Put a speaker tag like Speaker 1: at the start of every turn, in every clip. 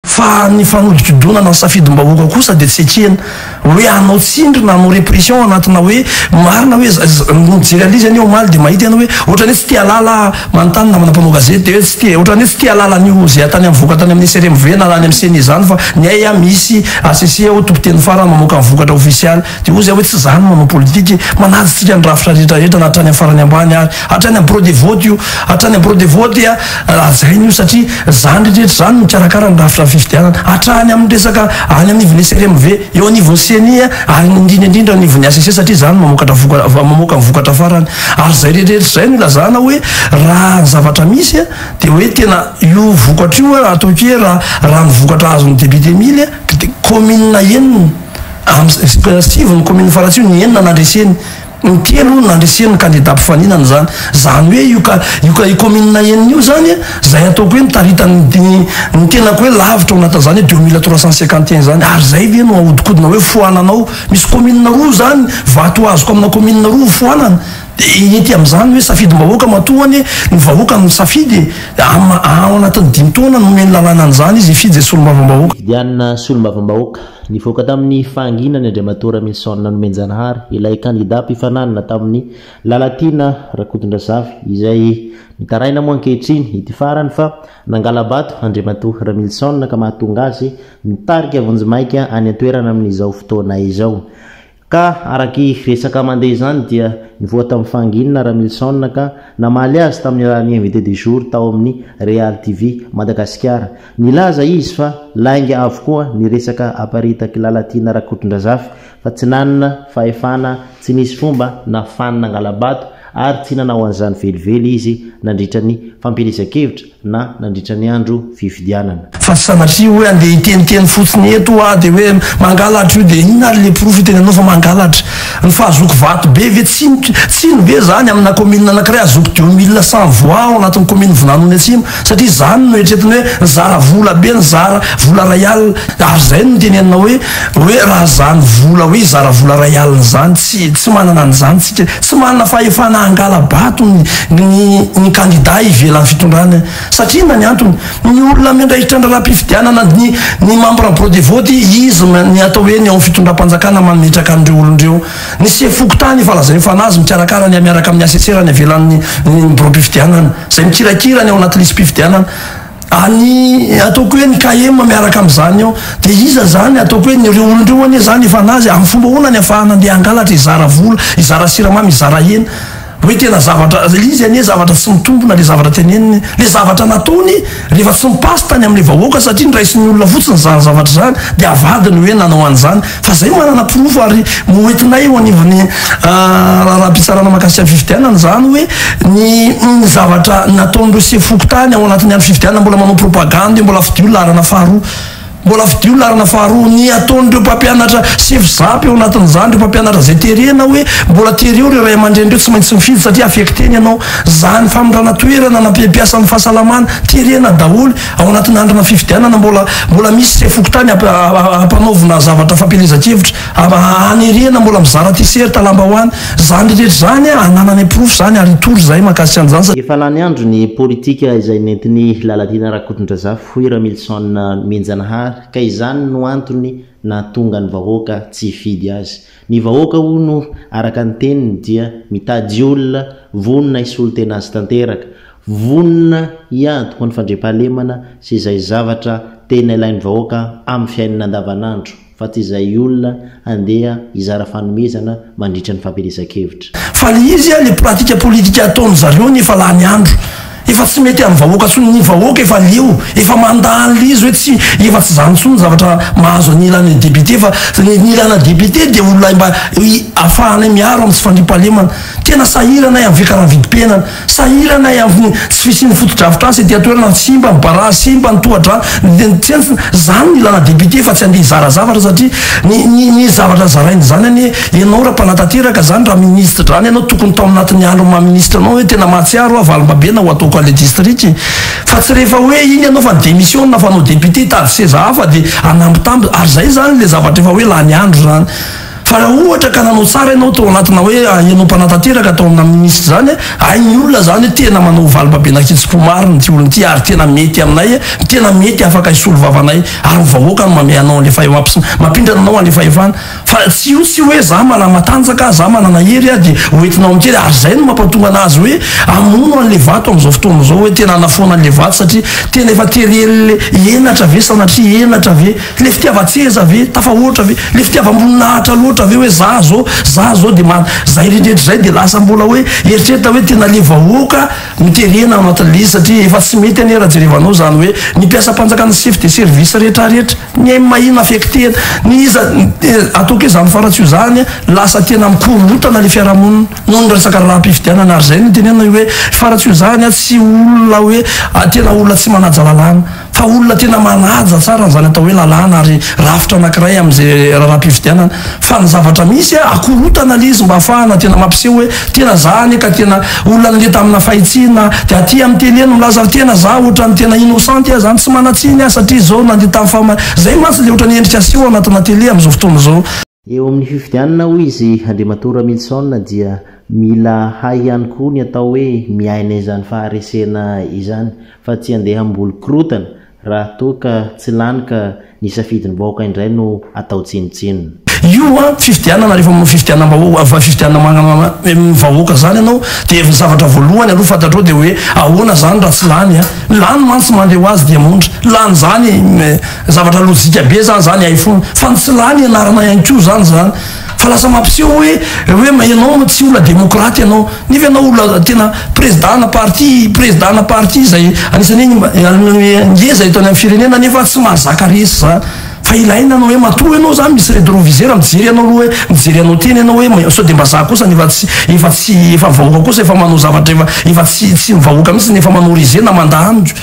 Speaker 1: Fa ny fanodinkodonana ny safidim-bahoaka kosa dia tsy ekena hoe hanao tsindry na hanao repression anatina hoe marina hoe ny mijery an'lizy anie omaly dia mahita ianao hoe ohatrany hoe tsy te halala manontany namana mpanao gazety dia hoe tsy te ohatrany hoe tsy te halala an'io zay atany mivoaka tany amin'ny SRMV na any amin'ny ceni izany fa ny ahy a misy HCC aho tompon-teny farany mamoaka ny vokatra ofisialy Dia hoy zay hoe tsy za no manao politika e! Manaja tsika ny rafitra rehetra rehetra na hatrany am farany ambany ary hatrany am bureau de vote io hatrany am bureau de vote a hajaina io satria zany rehetra rehetra zany no mikarakara ny rafitra fifidianana hatrany aminy resaka any anivon'ny SRMV eo anivon'ny ceni a ary ny indrindra indrindra eo anivon'ny hcc satria zany no mamokatra voka mamoaka ny vokatra farany ary zay rehetra rehetra zay no ilazana hoe raha ny zavatra misy a dia hoe tena io vokatra io a ataoko hoe raha raha ny vokatra azon'ny député mily a dia commune enina Amin'ny sivy ny kaominina faratsiho ny enina nandreseny, ny telo nandreseny ny kandida mpifaninana izany. Izany hoe io ka io ka io kaominina enina io izany an, izay ataoko hoe mitaritan'ny ny tenako hoe lavitra ao anatin'izany hoe deux mille trois cent cinquante et un izany. Ary izay ve no ahodinkodina hoe foanana ao? Misy kaominina roa izany, vato azoko amina kaominina roa hofoanana. Dia ety amin'izany hoe safidim-bahoaka matoa hono e, ny vahoaka no misafidy e. Amin'ny ao anatin'ny dimy taona no omeny lalàna an'izany izy hifidy izay solombavambahoaka. Hifidianana
Speaker 2: solombavambahoaka Nivoaka tamin'ny fahanginana ny Andriamatoa Raminson Nomenjanahary, ilay kandidà mpifaninanana tamin'i Lalatiana Rakotondrazafy, izay mitaraina moa ankehitriny ity farany fa nangala-bato Andriamatoa Raminson ka mahatonga azy mitarika vonjimaika any an-toerana amin'izao fotoana izao. Ka araka i resaka mandeha izany dia nivoha tamin'i Fangina Ramilison ka namaly azy tamin'ny alalan'ny invité du jour tao amin'ny Real TV Madagasikara. Nilaza izy fa lainga avokoa ny resaka aparitak'i Lalatiana Rakotondrazafy fa tsy nanana fahefana, tsy nisy fomba nafahany nangala-bato ary tsy nanao an'izany velively izy nandritra ny fampielezan-kevitra. na nandritra ny andro fifidianana. Fa tsy sanatria
Speaker 1: hoe andeha hiteniteny fotsiny eto aho dia hoe mangalatra io dia inona ary le porofo itenenanao fa mangalatra? Ny fahazoako vato be ve tsiny ve zany amina commune anakiray azoako deux mille cent voix ao anatin'ny commune Vonanoni Atsimo satria zany no eritreretiny hoe nizara vola be nizara vola ray alina ary zay no niteneninao hoe Hoe raha izany vola hoe zara vola iray alina izany tsy tsy manana an'izany tsika, tsy manana fahefana hangala-bato ny ny ny kandida ivelan'ny fitondrana satria inona ny antony? Ny olona miandraikitra ny raharaham-pifidianana ny ny membres bureau de vote izy ny atao hoe ny ao amin'ny fitondram-panjakana mametraka an'ireo olona ireo. Ny sefo fokontany efa lazain'ny fanazy mikarakara ny miaraka amin'ny assesseurs any ivelan'ny ny ny biraom-pifidianana izay mikirakira ny ao anaty lisi-pifidianana. Any ataoko hoe ny KM miaraka amin'izany ao. Dia iza izany? Ataoko hoe ireo olona ireo anie izany efa nazy. Amin'ny fomba ahoana ny afahana andeha hangalatra, hizara vola, hizara siramamy, hizara hena? Hoe tena zavatra, ilay izy anie zavatra tsy mitombina ilay zavatra teneniny. Ilay zavatra nataony rehefa tsy mi-passe tany amin'ilay vahoaka satria noraisin'ny olona fotsiny izany zavatra izany dia avadiny hoe nanao an'izany. Fa zay manana porofo ary moentinay eo anivon'ny raharaham-pitsarana mahakasika ny fifidianana zany hoe ny ny zavatra nataon'ireo sefo fokontany ao anatin'ny andro fifidianana mbola manao propagandy mbola fidio laharana faharoa mbola fidio laharana faharoa ny ataon'ireo mpampianatra sefo zapy ao anatin'izany ireo mpampianatra zay terena hoe mbola tereo ireo ray aman-dreny ireo tsy maintsy mifidy satria affecte ny anao zany famindrana toerana na mpiasan'ny fahasalamana terena daholo Ao anatin'ny andronà fifidianana, mbola mbola misy sefo fokontany hamp- ha- ha- hampanaovina zavatra fampielezan-kevitra, ha- ha- hanerena, mbola mizara tiserta, lambahoany. Izany rehetra izany, anananay porofo izany ary hitory izahay mahakasika an'izany satria. Efa lany andro ny
Speaker 2: politika izay nentin'i Lalatiana Rakotondrazafy, hoy Ramilison Mihenjanahary, ka izany no antony nahatonga ny vahoaka tsy hifidy azy. Ny vahoaka hono araka ny teniny dia mitady olona vonona hisolo tena azy tanteraka, vonona hiady ho an'ny fandriampahalemana sy izay zavatra tena ilain'ny vahoaka amin'ny fiainana andavanandro fa tsy izay olona handeha hizara fanomezana mandritra ny fampielezan-kevitra. Fa le izy a, le
Speaker 1: pratique politique ataony zareo ny efa lany andro. Efa tsy mety am vahoaka tsony ny vahoaka efa leo, efa manda an le izy oe tsy, efa tsy zany tsony zavatra mahazo an ilana député fa ny ilana député de olona mba afahanay miaro am tsy fandriam pahalemana. Tena sahirana ay am fikaravidim piainana. Sahirana ay avy ny tsy fisian'ny fotodrafitrasa ety an-toerana, simba ny barazy, simba ny tohadrano, ny tsentsina, zany ny ilana député fa tsy andeha hizara zavatra satria ny ny ny zavatra zarainy zany anie ianao raha mpanatanteraka zany raha ministre drany ianao tokony tao anatin'ny andron'ny maha ministre anao hoe tena mahatsiaro aho valimbabena ho ataoko any district fa tsy rehefa hoe iny ianao fa ni-démissiona fa anao député hitady seza hafa dia hanambitamby ary zay zany le zavatra efa hoe lany andro zany Fa raha ohatra ka nanao tsara ianao tao anatina hoe ianao mpanatanteraka tao amina minisitra izany, hain'ny olona izany hoe tena manao valim-babenakitsim-po marina ity olona ity ary tena mety aminay, tena mety afaka hisolo vava anay ary ny vahoaka no mamehy anao any efa mampindrana anao any fahefana. Fa tsy io tsy hoe za manana matanjaka, za manana hery aho dia ho entinao amin'kely ary izay no mampatonga anazy hoe hamono an'ilay vato amin'izao fotoana izao hoe tena hanafoana an'ilay vato satria tena efa tery el henatra ve sanatria henatra ve Le fitiavan-tseza ve tafahoatra ve? Le fitiavam-boninahitra loatra ve hoe za zao, za zao de ma-, zay rehetra zay de lasa mbola hoe eritreritra hoe tena le vahoaka no terena ao anatin'le izy satria efa tsy mety anie raha jerevanao zany hoe ny mpiasam-panjakana sy chef de service rehetra rehetra ny aim mahina affectena ny iza ataoko hoe zany faratsy io zany lasa tena mikorontana le fiarahamonina noho ny resaka raharaham-pifidianana ary zay no itenenana hoe faratsy io zany tsy olona hoe tena olona tsy manaja lalàna. Fa olona tena manaja tsara an'izany atao hoe lalàna ary rafitra anankiray amin'izay raharaham-pifidianana. Fa ny zavatra misy, akorotana ilay izy mba hahafahana tena mampiseho hoe tena za anie ka tena olona nande tamina fahitsiana dia aty amin'ny tele no milaza tena za ohatran'ny tena innocente aho zany tsy manan-tsiny aho satria zao nande tamin'ny fahamarinana. Zay mantsy ilay ohatran'ny endrika aseho ao anatina tele amin'izao fotoana izao. Eo amin'ny fifidianana,
Speaker 2: hoy izy, Andriamatoa Ramilison dia mila hay ihany koa ny atao hoe miaina izany faharesena izany fa tsy handeha hamboly korotana raha toa ka tsy lany ka ny safidin'ny vahoaka indray no atao tsinontsinona. Io
Speaker 1: fifidianana, rehefa manao fifidianam-bahoaka, fifidianam-ny vahoaka izany ianao dia ny zavatra voalohany aloha fantatrao dia hoe ahoana izany raha tsy lany? Lany mantsy mandeha ho azy Diamondra, lany izany. Zavatra lojika be zany zany hay foana fa ny tsy lany anarana ihany koa zany zany fa lasa mampiseho hoe hoe ma ianao ma tsy ola demokraty ianao nefa ianao ola tena prezda na parti prezda na parti izay anisany hoe ngeza eto any amin'ny firenena nefa tsy mahazaka resy zany fa ilaina ny hoe matoa ianao zany misy redrovisera mijery ianao aloha hoe mijery anao tena ianao hoe ma sao dia mba za kosa nefa tsy efa tsy efa vahoaka kosa efa manao zavatra efa efa tsy tsy ny vahoaka mihitsy nefa manao régé na mandà amiko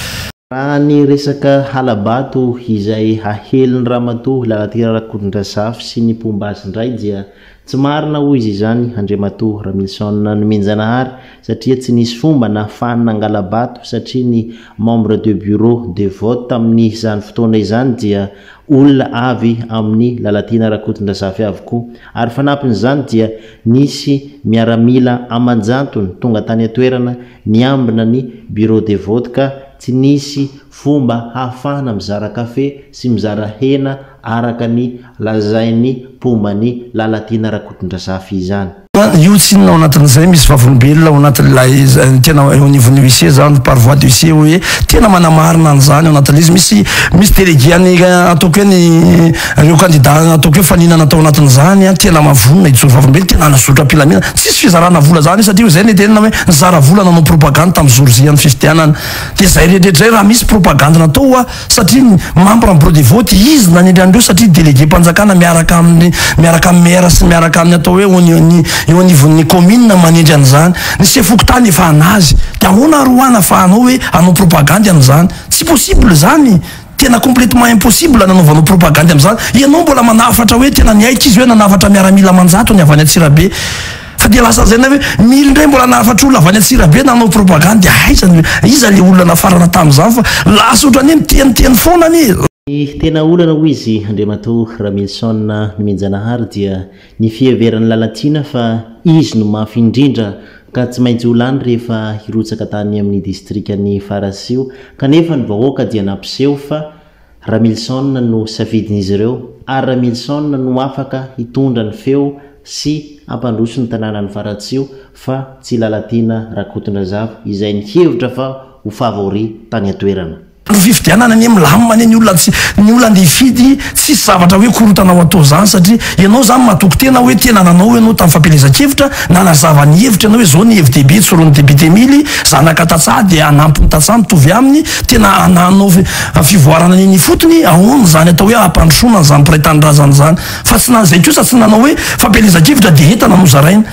Speaker 1: Raha ny
Speaker 2: resaka hala-bato izay hahelin'i Ramatoa Lalatiana Rakotondrazafy sy ny mpomba azy indray dia tsy marina hoy izy izany Andriamatoa Ramilison Nomenjanahary satria tsy nisy fomba nahafahany nangala-bato satria ny membre de bureau de vote tamin'izany fotoana izany dia olona avy amin'i Lalatiana Rakotondrazafy avokoa ary fanampin'izany dia nisy miaramila aman-jantony tonga tany an-toerana Niambina ny Bureau de vote ka tsy nisy fomba hahafahana mizara kafe sy mizara hena araka ny lazain'ny mpomba ny Lalatiana Rakotondrazafy izany. Io tsy inona ao
Speaker 1: anatin'izay misy vavolombelona ao anatin'ilay tena eo anivon'ny huissier izany, par voie d'huissier hoe tena manamarina an'izany ao anatin'ilay izy. Misy misy délégué an'ny ataoko hoe ny. Ireo kandida nataoko eo faninana tao anatin'izany an, tena maha vonona hijoro vavolombelona, tena hanazotra am-pilamina. Tsisy fizarana vola izany satria hoy izay ny tenina hoe nizara vola nanao propagandy tamin'ny jour J an'ny fifidianana. Dia izay rehetra izay raha misy propagandy natao hoa satria ny membre en bureau de vote izy nanendry an'ireo satria délégué mpanjakana miaraka amin'ny miaraka amin'ny maire sy miaraka amin'ny atao hoe eo ny eo anivon'ny commune no manendry an'izany. Ny sefo fokontany efa anazy. Dia ahoana ary hoa nafahanao hoe hanao propagandy an'izany. Tsy possible izany. Tena complètement impossible nanaovanao propagandy amin'izany. Ianao mbola manafatra hoe tena niaiky izy hoe nanafatra miaramila aman-jatony avy any Antsirabe. Fa dia lasa lazaina hoe mily indray mbola nahafatra olona avy any Antsirabe nanao propagandy. Aiza no, iza ilay olona nafarana tamin'izany fa lasa ohatran'ny hoe miteniteny foana anie. Ny tena olana
Speaker 2: hoy izy Andriamatoa Ramilison Nomenjanahary dia Ny fiheveran'i Lalatiana fa izy no mafy indrindra ka tsy maintsy ho lany rehefa hirotsaka tany amin'ny distrikan'i Farasio kanefa ny vahoaka dia nampiseho fa Ramilison no safidin'izy ireo ary Ramilison no afaka hitondra ny feo sy hampandroso ny tanànan'i Faratsio fa tsy Lalatiana Rakotondrazafy izay nihevitra fa ho favori tany an-toerana. Ny fifidianana anie milamina anie ny olona tsy ny olona andeha hifidy tsisy zavatra hoe korotana ho atao zany satria ianao zany matoky tena hoe tena nanao ianao tamin'ny fampielezan-kevitra nanazava ny hevitra ianao hoe zao ny hevi-dehibe tsorin'ny député mily zanaka tantsaha dia hanampy ny tantsaha mitovy aminy tena hanao fivoarana eny ifotony ahoana zany atao hoe hampandrosoana an'izany mpiray tanindrazana zany fa tsy na izay kosa tsy nanao hoe fampielezan-kevitra dia entana nozaraina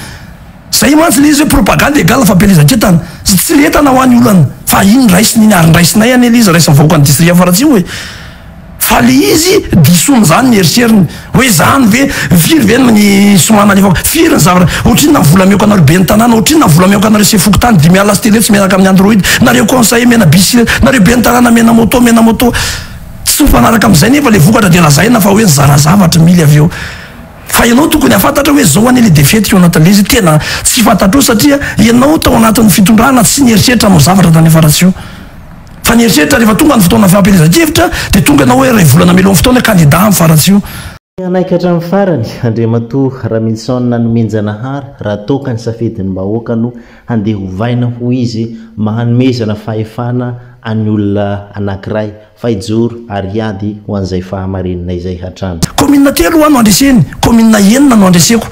Speaker 2: Zay mantsy le izy hoe propagande égale fampielezan-kentana sy tsy lentana ho any olana fa iny raisina iny ary ndraisinay anie le izy raisin'ny vahoakan'ny district faratsiho e! fa le izy disoiny zany ny eritreriny hoe zany ve firy ve ny soma nalefako? firy ny zavatra? otrinona ny vola ameko anareo ben'ny tanàna? otrinona ny vola ameko anareo sefo fokontany? dimy alina sy telo hetsy miaraka amin'ny android? nareo conseiller mena bicyclette? nareo ben'ny tanàna mena moto mena moto? tsy mifanaraka amin'izay nefa le vokatra dia lazaina fa hoe nizara zavatra mily avy eo Fa
Speaker 1: ianao tokony hahafantatra hoe zao anie le défaite Yonatan Lezy tena tsy fantatrao satria ianao tao anatin'ny fitondrana tsy nieritreritra hanao zavatra tany Faratsiho fa nieritreritra rehefa tonga ny fotoana fampielezan-kevitra dia tonga ianao hoe iray volana melohan'ny fotoana kandida amin'ny Faratsiho Tsy hanaiky hatramin'ny
Speaker 2: farany Andriamatoa Ramilison Nanomenjanahary raha toa ka ny safidin'ny vahoaka no handeha hovaina hoy izy manomezana fahefana an'ny olona anankiray Fa hijoro ary hiady ho an'izay fahamarininay izay hatrany. Kaominina telo hoa no
Speaker 1: andreseny, kaominina enina no andreseko.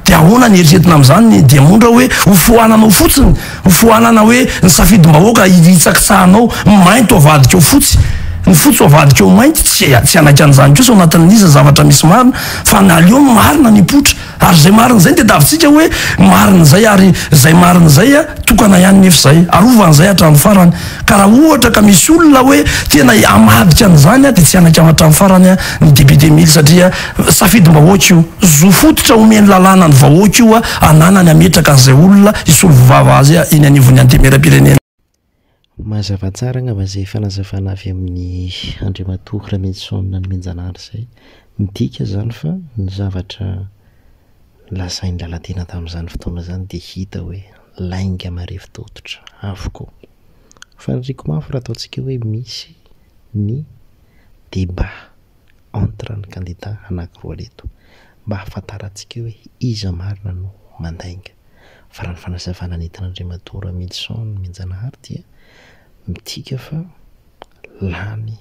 Speaker 1: Dia ahoana ny eritreretina amin'izany? Dia moa ndra hoe hofoananao fotsiny? Hofoanana hoe ny safidim-bahoaka hitsakitsahanao, mainty ho avadikao fotsy, ny fotsy ho avadikao mainty? Tsia, tsy hanaiky an'izany kosa ao anatin'ny iza zavatra misy marina, fa ny aleo ny marina mipoitra. Ary izay marina izay no tadiavintsika hoe marina izay, ary izay marina izay tokana ihany nefa izay. Arova an'izay hatramin'ny farany. Ka raha ohatra ka misy olona hoe tena hamadika an'izany dia tsy hanaiky hatramin'ny farany ny député Mily satria safidim-bahoaka io. Zo fototra omen'ny lalàna ny vahoaka io hananany hametraka an'izay olona hisolo vava azy eny anivon'ny Antemeram-pirenena.
Speaker 2: Mazava tsara angamba izay fanazavana avy amin'i Andriamatoa Rameloson Namianjanahary izay. Midika izany fa ny zavatra nolazain'i Lalatiana tamin'izany fotoana izany dia hita hoe lainga marefo tototra avokoa. Faniriako mafy raha ataontsika hoe misy ny débat entre ny kandida anankiroa aleto mba hahafantarantsika hoe iza marina no mandainga. Fa raha ny fanazavana nentin'Andriamatoa Ramilison Mianjanahary dia midika fa lany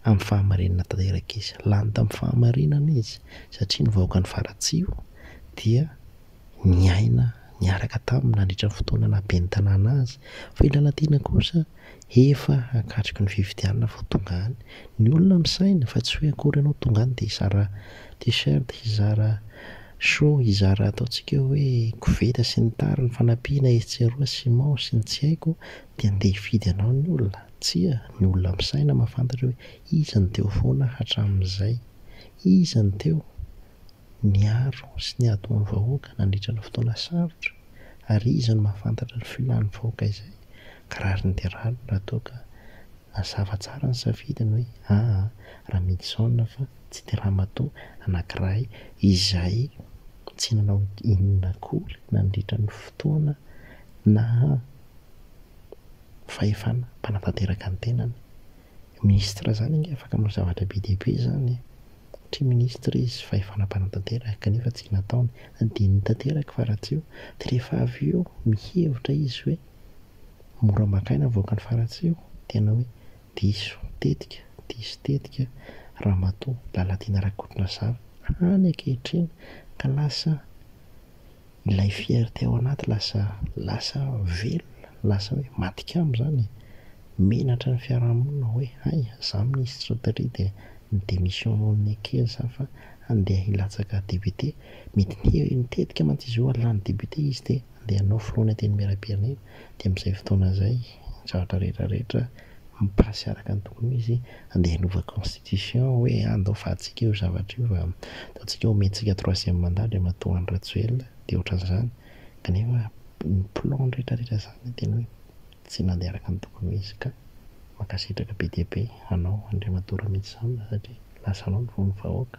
Speaker 2: amin'ny fahamarinana tanteraka izy. Lany tamin'ny fahamarinana izy satria ny vahoakan'i Faratsiho dia niaina niaraka taminy nandritra ny fotoana naha ben'ny tanàna azy. Fa i Lalatiana kosa Efa hakatriky ny fifidianana vao tonga any. Ny olona misaina fa tsy hoe akory ianao tonga any dia hizara t-shirt, hizara show, hizara ataontsika hoe koveta sy ny tariny, fanampiana etsy sy eroa, ciment sy ny tsy haiko, dia handeha hifidy anao ny olona. Tsia, ny olona misaina mahafantatra hoe iza no teo foana hatramin'izay. Iza no teo? niaro sy niato ny vahoaka nandritra ny fotoana sarotra ary iza no mahafantatra ny filan'ny vahoaka izay ka rariny dia rariny raha toa ka nazava tsara ny safidiny hoe aa Ramidison fa tsy dia ramatoa anakiray izay tsy nanao inona akory nandritra ny fotoana naha fahefana mpanatanteraka ny tenany Ministre zany ange afaka manao zavatra be dia be zany e! Satria ministre izy fahefana mpanatanteraka kanefa tsy nataony, adinony tanteraka fa ratsy io, dia rehefa avy eo mihevitra izy hoe mora maka aina ny vahoakan'i Faratsiho, tena hoe diso tetika, diso tetika Ramatoa Lalatiana Rakotondrazafy hany ankehitriny ka lasa Ilay fierté ao anaty lasa lasa velona, lasa hoe maty kamo izany e! Menatra ny fiarahamonina hoe hay za minisitra au tri dia ny démission nohon'ny ekely za fa handeha hilatsaka député, mety nitetika mantsy izy io hahalany député izy dia handeha hanao filohan'ny antenimierampirenena, dia amin'izay fotoana izay ny zavatra rehetra rehetra mi-passe araka ny tokony ho izy, andeha hanova constitution hoe ah ndao fahantsika io zavatra io fa ataontsika omentsika troisième mandat Andriamatoa Andry Rajoelina dia ohatran'izany kanefa ny plan retraretra zany dia hoe tsy nandeha araka ny tokony ho izy ka mankasitraka be dia be anao Andriamatoa Ramity Sam satria lasa anao no vono vahoaka.